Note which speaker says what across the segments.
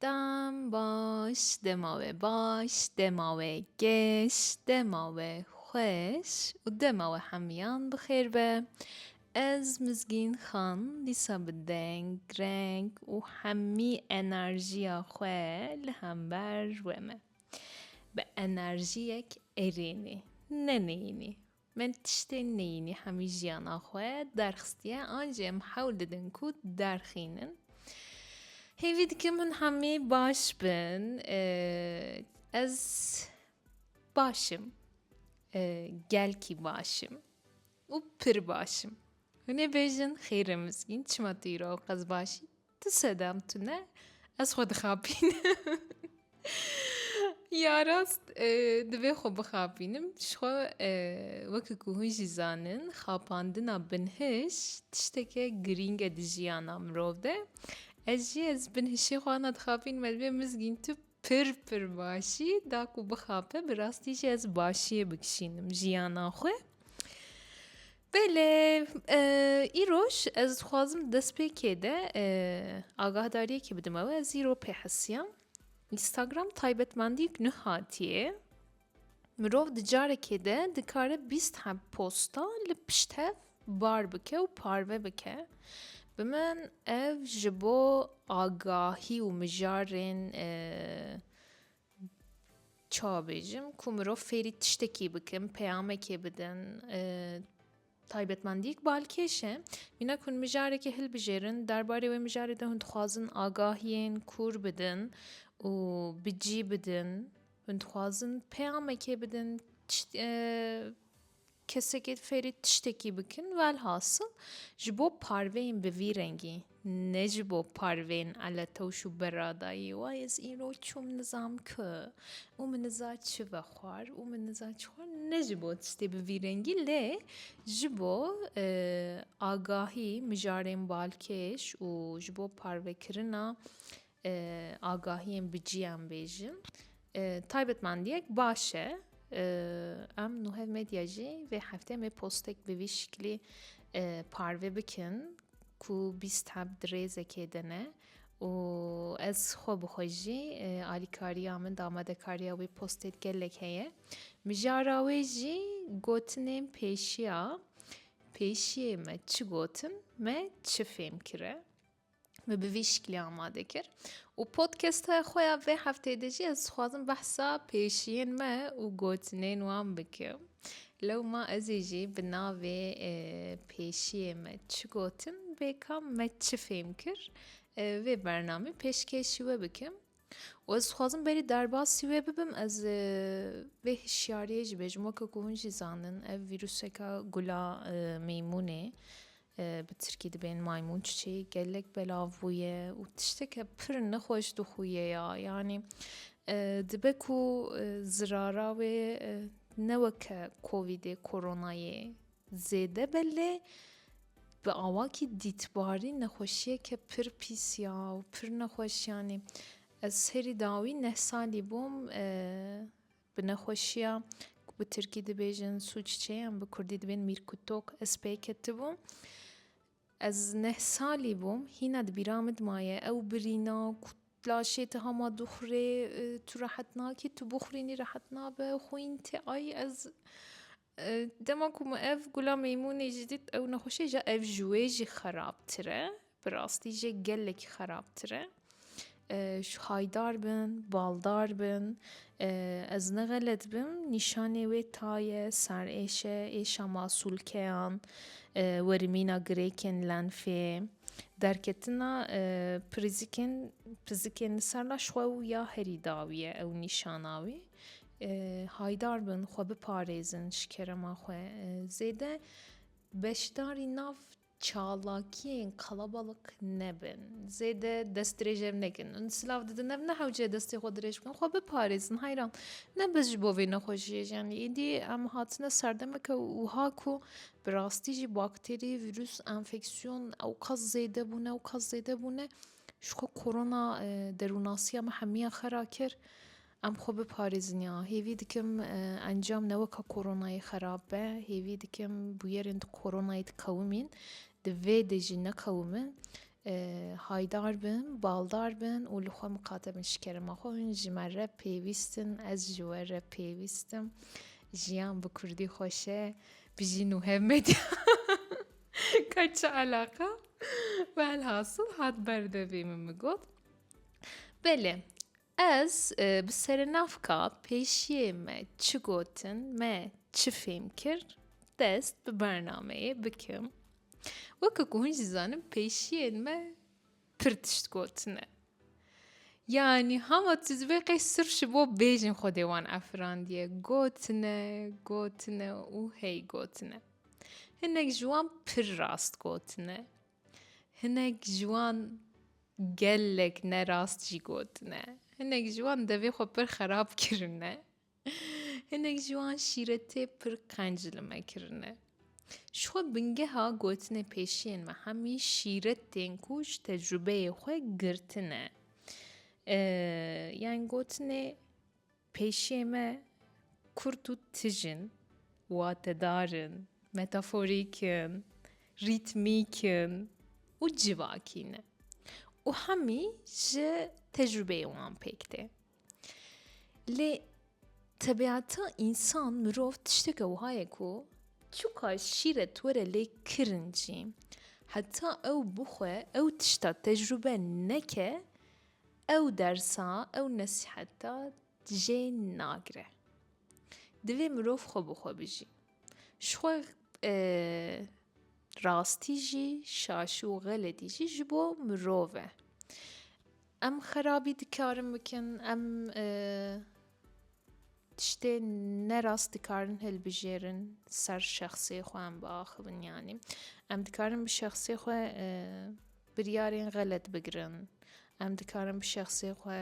Speaker 1: Dem baş, dema we baş, dema we geş, dema we xweş û dema we hemiyan bi xêr be. Ez Mizgîn Xan dîsa bi deng, reng û hemî enerjiya xwe li hember we me. Bi enerjiyek erênê, ne neyînê. Min tiştê neyînî hemî jiyana xwe derxistiye an jî em hewl didin ku derxînin. Hêvî dikim hûn hemî baş bin. Ez başim. Gelkî başim û pir başim. Hûn ê bêjin xêr e mizgîn çima tu îro ew qez baş î? Tu sedem tune ez xwe dixapînim. Ya rast e, divê xwe bixapînim ji xwe e, weke ku hûn jî zanin xapandina binhij tişteke girîng e di jiyana mirov de. Ez jî ez binhişê xwe ana dixapînim ez divê mizgîn tu Pir pir başî da ku bixape bi rastî jî ez başiyê bikişînim jiyana xwe. Belê îroj ez dixwazim destpêkê de agahdariyekê bidim ew ez îro pê hesiyam. Instagram taybetmendî nû hatiye. Mirov di carekê de dikare bîst heb posta li pişt hev bar bike û parve bike. Bi min ev ji bo agahî û mijarên e, çawa bêjim ku mirov fêrî tiştekî bikin, peyamekê bidin, e, Taybetmendî ku balkêş e, mîna ku hûn mijarekê hilbijêrin, derbarê wê mijarê de hûn dixwazin agahiyên kûr bidin û bi cî bidin, hûn dixwazin peyamekê bidin, kesekê fêrî tiştekî bikin, welhasil ji bo parveyên bi vî rengî Ne ji bo parvên eletewş û beradayî wa ez îro çûm nizam ku û min niza çi ve xwar û min niza çi xwar ne ji bo tiştê bi vî rengî lê ji bo e, agahî mijarên balkêş û ji bo parvekirina agahiyên bi cîyan bêjin taybetmendiyek baş e. Em nuhev medya jî vê heftê me postek bi vî şiklî parve bikin ku bîst heb di rêzekê de ne û ez xwe bi xwe jî alîkariya min damadekariya wê postê gelek heye. Mijara wê jî gotinên pêşiya pêşiyê me çi gotin me çi fêm kire. ve bi vî şiklê amade kir û podcasta xwe ya vê hefteyê de jî ez dixwazim behsa pêşiyên me û gotinên wan bikim. Lewma ez ê jî bi navê e, pêşiyê me çi gotin, bêkam me çi fêm kir, e, vê bernamê pêşkêşî we bikim. û ez dixwazim berî derbasî wê bibim ez vê hişyariyê jî bêjim weke ku hûn jî zanin ev vîrûseke gula meymûnê bi tirkî dibên maymun çiçê gelek belav bûye û tişteke pir nexweş dixuye ya yanî dibe ku zirara wê ne weke kovîdê koronayê Zêde be lê bi awakî dîtbarî nexweşiyeke pir pîs ya û pir nexweş yanî ez serî dawî neh salî bûm bi nexweşiya ku bi tirkî dibêjin sûççe yan bi kurdî dibên mîrkûtok ez pê ketibûm ez neh salî bûm hîna di bîra min maye ew birîna ku laşê ti hema dixurê tu rehet nakî tu bixurînî rehet nabe xwîn tê ay ez Dema ku min ev gula meymunê jî dît ew nexweşê ja ev ji wê jî xerabtir e. Bi rastî jê gelekî xerabtir e. Ji haydar bin, baldar bin ez ne xelet bim nîşanê wê taye, serêşe, êşa masûlkeyan, werimîna girêkên lenfê, derketina pirizikên pizikên li ser laş xwe û ya herî dawî ye ew nîşana wê. Haydar bin xwe biparêzin ji kerema xwe zêde beşdarî nav çalakiyên qelebelik nebin. Zêde dest dirêj ev nekin. Hûn silav didin ev ne hewce destê xwe dirêj bikin. Xwe biparêzin heyran. Ne biz ji bo vê nexweşiyê jî yanî êdî em hatine serdemeke wiha ku bi rastî jî bakterî, vîrus, enfeksiyon ew qas zêde bûne ew qas zêde bûne ji xwe korona derûnasiya me hemiya xera kir. Em xwe biparêzin ya. Hêvî dikim encam ne weka koronayê xerab be, hêvî dikim bûyerên di koronayê dikewimîn, di vê de jî nekewimin. Haydar bin, baldar bin û li xwe miqate bin şikerema xwe. Hûn ji me re pêwîst in, ez ji we re pêwîst im. Jiyan bi kurdî xweş e. Bijî Nuhev Medya. Ka çi eleqa? Velhasil hat ber devê min min got. Belê. Ez bi serenavka pêşiyê me çi gotin, me çi fêm kir, dest bi bernameyê bikim. Weke ku hûn jî zanin pêşiyên me pir tişt gotine. Yani hama tizvê qey sir ji bo bêjin Xwedê wan efirandiye. Gotine, gotine û hey gotine. Hinek ji wan pir rast gotine. Hinek ji wan gelek ne rast jî gotine. Hinek ji wan devê xwe pir xerab kirine. Hinek ji wan şîretê pir qenc li me kirine. Ji xwe bingeha gotinê pêşiyên me hemî şîret tên ku ji tecrubeyê xwe girtine. Yan gotinê Pêşiyê me kurt û tij in, watedar in, metaforîk in, rîtmîk in û civakî ne û hemî ji tecrûbeyê wan pêk tê. Lê tebiata însan, mirov tişteke wiha ye ku çiqas şîret were lê kirincî heta ew bixwe ew tişta tecrûbe neke Ew dersa, ew nesîheta jê nagire. Divê mirov xwe bi xwe bijî. Ji xwe rastî jî, şaşî û xeletî jî ji bo mirov e. Em xerabî dikarin bikin, em tiştê nerast dikarin hilbijêrin ser şexsê xwe em biaxivin yanî. Em dikarin bi şexsê xwe Biryarên xelet bigirin. Em dikarin bi şexsê xwe,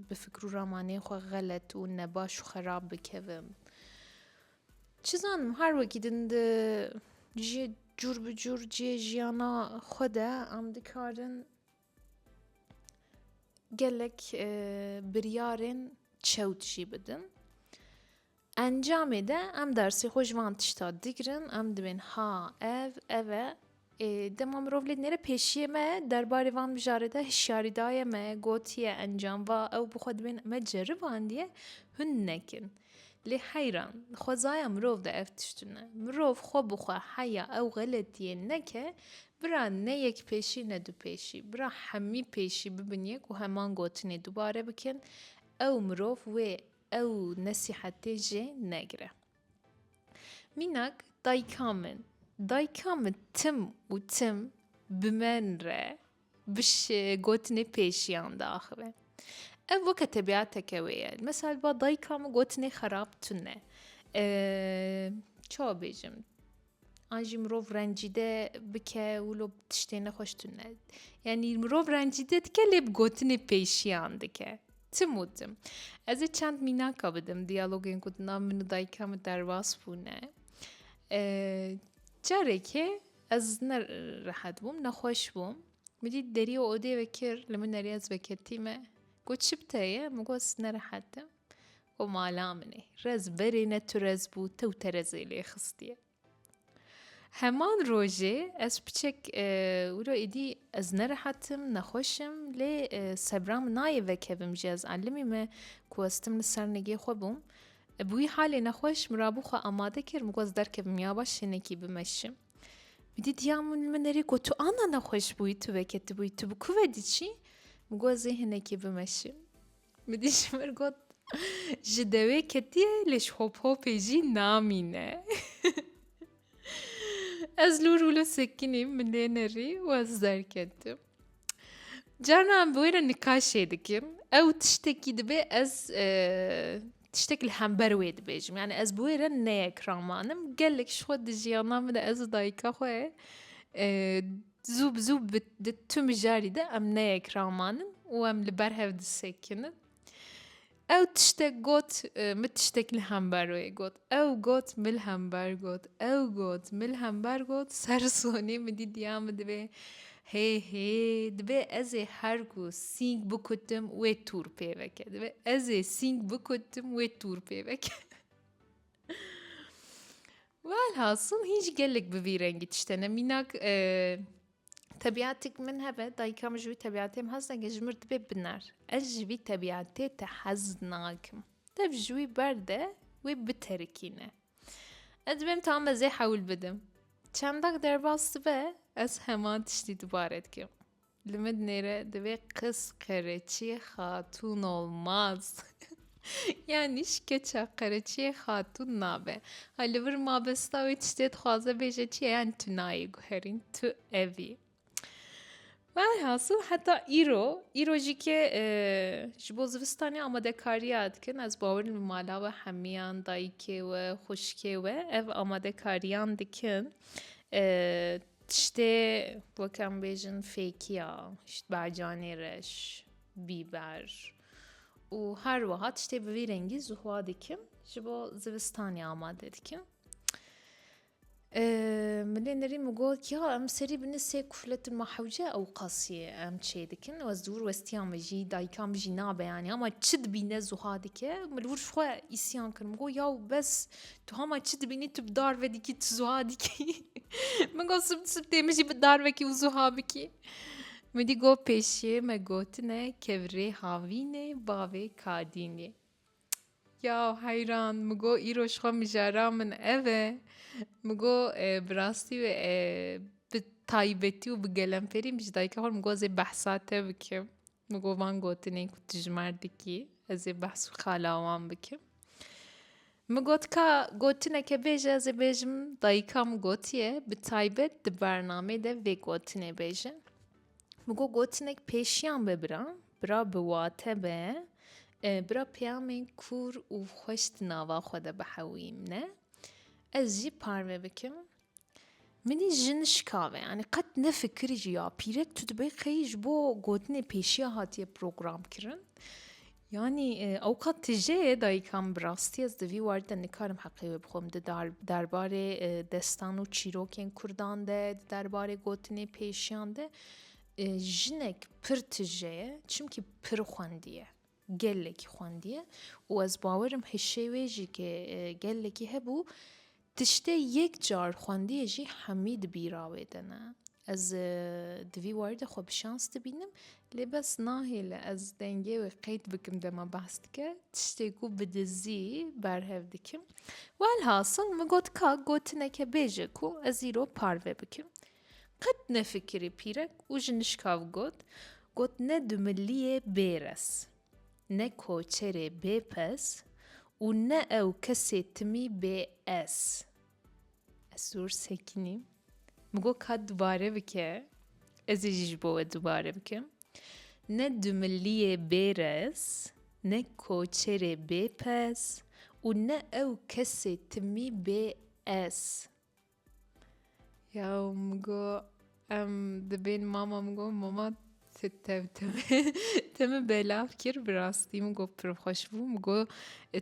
Speaker 1: bi fikir û ramanên xwe xelet û nebaş û xerab bikevin. Çi zanim her wekî din di ji cûr bi cûr cihê jiyana xwe de em dikarin gelek biryarên çewt jî bidin. Encamê de em dersê xwe ji van tişta digirin, em dibên ha, ev, ev e. Ê dema mirov lê dinêre pêşiyê me derbarê van mijarê de hişyarî daye me, gotiye encam va ew bi xwe dibên me ceribandiye hûn nekin. Lê heyran, di xwezaya mirov de ev tişt tune. Mirov xwe bi xwe heya ew xeletiyê neke, bira ne yek pêşî ne du pêşî, bira hemî pêşî bibin yek û heman gotinê dubare bikin, ew mirov wê Ew nesîhetê jê negire. Mînak dayika min, dayika min tim û tim bi min re bi gotinê pêşiyan diaxive. Ev weke tebîateke wê ye. Misal ba dayika min gotinê xerab tune. Çawa bêjim? an jî mirov rencîde bike û lo tiştê nexweş tu ne yanî mirov rencîde dike lê bi gotinê pêşiyan dike tim û tim ez ê çend mînaka bidim diyalogên ku di nav min û dayika min derbas bûne carekê ez ne rehet bûm nexweş bûm min dît derî û odê vekir li min nerî ez veketîme got çi bi te ye min got ez nerehetim O mala min e, rez berê ne tu rez bû tew te rezê lê xistiye. Heman rojê ez piçek e, wilo êdî ez nerehetim, nexweşim lê e, sebra min nayê vekevim jî ez elimî me ku ez tim li ser nigê xwe bûm. E, bi wî halê nexweş min rabû xwe amade kir min ku ez derkevim ya baş şênekî bimeşim. Wîdî diya min li min nerê ku tu ana nexweş bûyî tu veketibûyî tu bi ku ve diçî min ku ez ê hinekî bimeşim. Midî ji min got, Ji dewê ketiye lê ji hophopê jî namîne. Ez lûr û li sekinîm min lê nerî û ez derketim. Carna em bi wê re nikaşê dikim. Ew tiştekî dibe ez tiştek li hember wê dibêjim. Yani ez bi wê re neyekiramanim. Gelek ji xwe di jiyana min de ez û dayika xwe Zû bi zû bi di tu mijarî de em neyek ramanin û em li ber hev disekinin. Ew tiştek got, e, min tiştek li hember wê got. Ew got, min li hember got. Ew got, min li hember got. Ser sonê min dît ya min divê hê hê divê ez ê her ku sîng bikutim wê tûr pê veke. Divê ez ê sîng bikutim wê tûr pê veke. Welhasil hînc gelek bi vî rengî tişte ne mînak Tebiatik min hebe dayika min ji wî tebiatê min hez nake ji min dibe biner. Ez ji vî tebiatê te hez nakim. Tev ji wî berde wê biterikîne. Ez dibêm tam mezê hewil bidim. Çendak derbas dibe ez heman tiştî dubare dikim. Li min nêre divê qis qereçî xatûn olmaz. Yanî şikeça qereçiyê xatûn nabe. Ha li vir mabesta wê tiştê dixwaze bêje çi ye yan tu nayê guherîn tu evî. Velhasil heta îro îro jî ke e, ji bo zivistanê amadekariya dikin ez bawerim li mala we hemiyan dayikê we xuşkê we ev amadekariyan dikin e, Tiştê wek em bêjin fêkiya ji bacanê re ji bîber û her wiha tiştê bi vî rengî zuhwa dikim ji bo zivistanê amade dikim. Milê nirî min got ya em serî bini sê kufletin ma hewce ew qasî em çê dikin wez dûr westiya min jî dayika min jî nabe yanî ama çi dibîne zuha dike min li wir ji xwe îsyan kir min got yaw bes Tu hema çi dibînî tu bi dar ve dikî tu zuha dikî min got sib sib tê min jî bi dar vekî û zuha bikî min dî got pêşiyê me gotine kevirê havînê bavê kadînê ya heyran min got îro ji xwe mijara min ev e min got bi rastî wê bi taybetî û bi gelemperî min ji dayika xwe min got zê behsa te bikim Min got van gotinên ku tu ji mer dikî ez ê behs û xala wan bikim. Min got ka gotineke bêje ez ê bêjim dayika min gotiye bi taybet di bernamê de vê gotinê bêje. Min got gotinek pêşiyan be bira, bira bi wate be, e, bira peyamên kûr û xweş di nava xwe de bihewîmne. Ez jî parve bikim. Minî jin şikave yanî qet ne fikirî jî ya pîrek tu dibê qey ji bo gotinê pêşiya hatiye program kirin yanî ewqat tije ye dayîka min bi rastî ez di vî were de nikarim heqê wê bixwim di derbarê destan û çîrokên kurdan de di derbarê gotinê pêşiyan de jinek pir tije ye çimkî pir xwendiye. Gelekî xwendiye û ez bawer im hişê wê jî ke gelekî hebû, tiştê yek car xwendiye jî hemî di bîra wê de ne. Ez di vî warî de xwe bi şans dibînim lê bes nahêle ez dengê wê qeyd bikim dema behs dike, tiştê ku bi dizî berhev dikim. Welhasil min got ka gotineke bêje ku ez îro parve bikim. Qet nefikirî pîrek û ji nişkav got, got ne dumiliyê bêres, ne koçerê bêpes û ne ew kesê timî bê ez. Ez zor sekînî. Min got ka dubare bike, ez ê jî ji bo we dubare bikim. Ne dumiliyê bêres, ne koçerê bêpes û ne ew kesê timî bê ez. Ya û min got em dibên mama min got mama tu tev tu min belav kir bi rastî min got pir xweş bû min got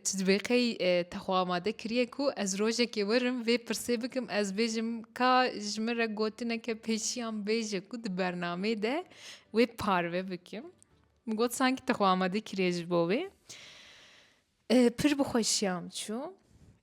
Speaker 1: tu divê qey e, te xwe amade kiriye ku ez rojekê werim vê pirsê bikim ez bêjim ka ji min re gotineke pêşiyan bêje ku di bernameyê de wê parve bikim min got sankî te xwe amade kiriye ji bo wê e, pir bi xweşiya min çû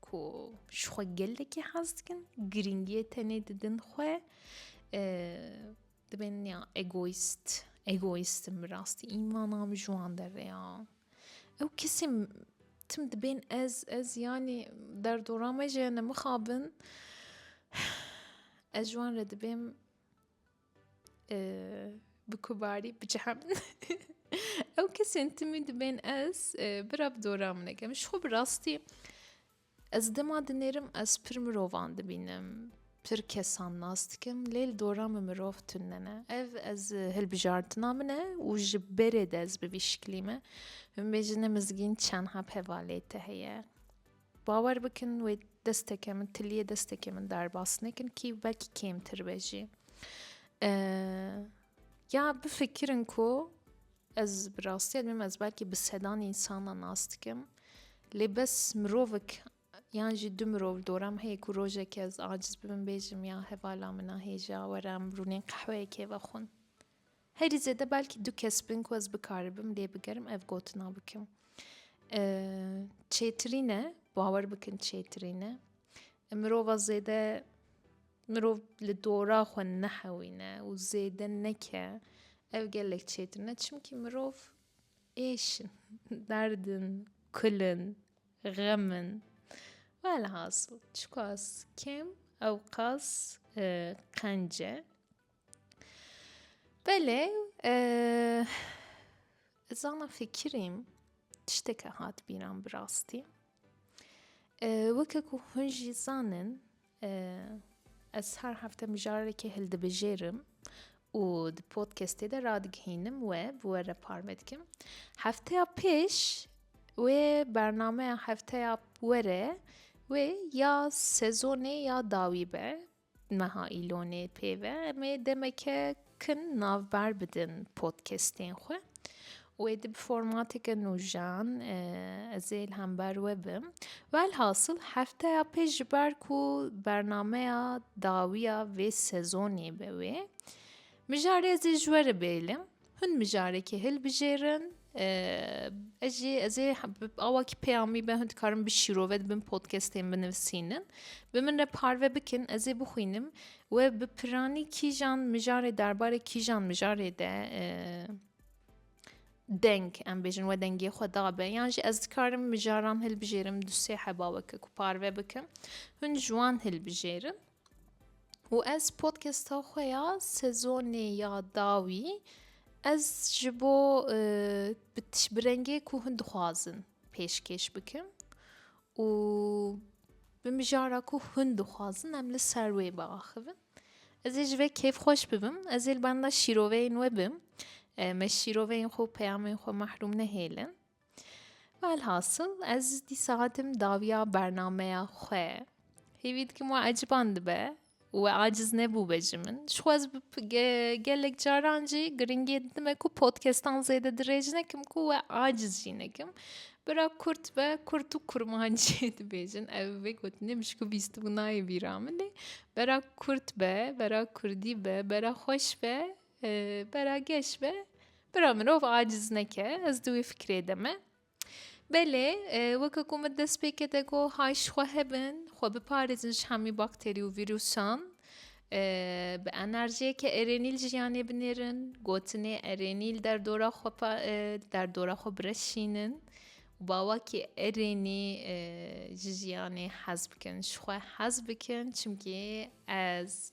Speaker 1: ku ji xwe gelekî hez dikin girîngiyê tenê didin xwe dibên ya egoîst egoîstim bi rastî îmana min ji wan derê ya ew kesê tim dibên ez ez yanî derdora me jê ne mixabin ez ji wan re dibêm Bi ku barî biciha min ew kesên timî dibên ez bira bi dora min nekim ji xwe bi rastî ez dema dinêrim ez pir mirovan dibînim pir kesan nas dikim lê li dora min mirov tune ne ev ez hilbijartina min e û ji berê de ez bi vî şiklî me min bêje ne mizgîn çend heb hevalê te heye Bawer bikin wê desteke min tiliyê destekê min derbas nekin kî vekî kêmtir be jî. Ya bifikirin ku ez bi rastî dibim ez belkî bi sedan însanan nas dikim lê bes mirovik yan jî du mirov dora min heye ku rojekê ez aciz bibim bêjim ya hevala min a hêja were em rûnên qehweyekê vexwin. Herî zêde belkî du kes bin ku ez bikaribim lê bigerim ev gotina bikim. Çêtirîn e, bawer bikin çêtirîn e. Mirova zêde mirov li dora xwe nehewîne û zêde neke ev gelek çêtirîn e çimkî mirov êş in, derd in, kul in, xem in. Velhasil çiqas kêm ewqas qenc e. Belê ez ana fikirîm tişteke hat bîran bi rastî. Weke ku hûn jî zanin ez her hefte mijarekê hildibijêrim û di podkestê de radigihînim we bi we re parve dikim. Hefteya pêş wê bernameya hefteya were wê ya sezonê ya dawî be. Meha îlonê pê ve em ê demeke kin navber bidin podcastên xwe. Wê di bi formateke nûjan ez ê li hember we bim. Velhasil hefteya pê ji ber ku bernameya dawiya vê sezonê be wê mijare ez ê ji we re bêlim. Hûn mijarekê hilbijêrin ez jî ez ê awa kî pêya mî be hûn dikarin bi şîrove dibin podcastên binivisînin bi min re parve bikin ez ê bixwînim we bi piranî kîjan mijarê derbarê kîjan mijarê de deng em bêjin we dengê xwe dabe yan jî ez dikarim mijaran hilbijêrim du sê heba weke ku parve bikin hûn ji wan hilbijêrin û ez podcasta xwe ya sezonê ya dawî ez ji bo e, bi rengê ku hûn dixwazin pêşkêş bikim û bi mijara ku hûn dixwazin em li ser wê biaxivin ez ê ji vê kêf xweş bibim ez ê li benda şîroveyên we bim e, me şîroveyên xwe û peyamên xwe mehrûm nehêlin Velhasıl ez dîsa hatim dawiya bernameya xwe. Hêvî dikim we eciban dibe û we aciz nebû be ji min. Ji xwe ez gelek caran jî giringiyê didime ku podcastan zêde dirêj nekim ku we aciz jî nekim. Bira kurt be kurt û kurmanciyê dibêjin ev vê gotinê min ji ku bîstibû nayê bîra min lê bera kurt be bera kurdî be bera xweş be Bera geş be. Bira mirov aciz neke. Ez di wê fikirê de me. Belê weke ku min dest pê kete ku hay ji xwe hebin, xwe biparêzin ji hemî bakterî û vîrûsan. Bi enerjiyeke erênîl jiyanê binêrin, gotinê erênîl derdora xwe derdora xwe bireşînin û bawakî erênî ji jiyanê hez bikin. Ji xwe hez bikin çimkî ez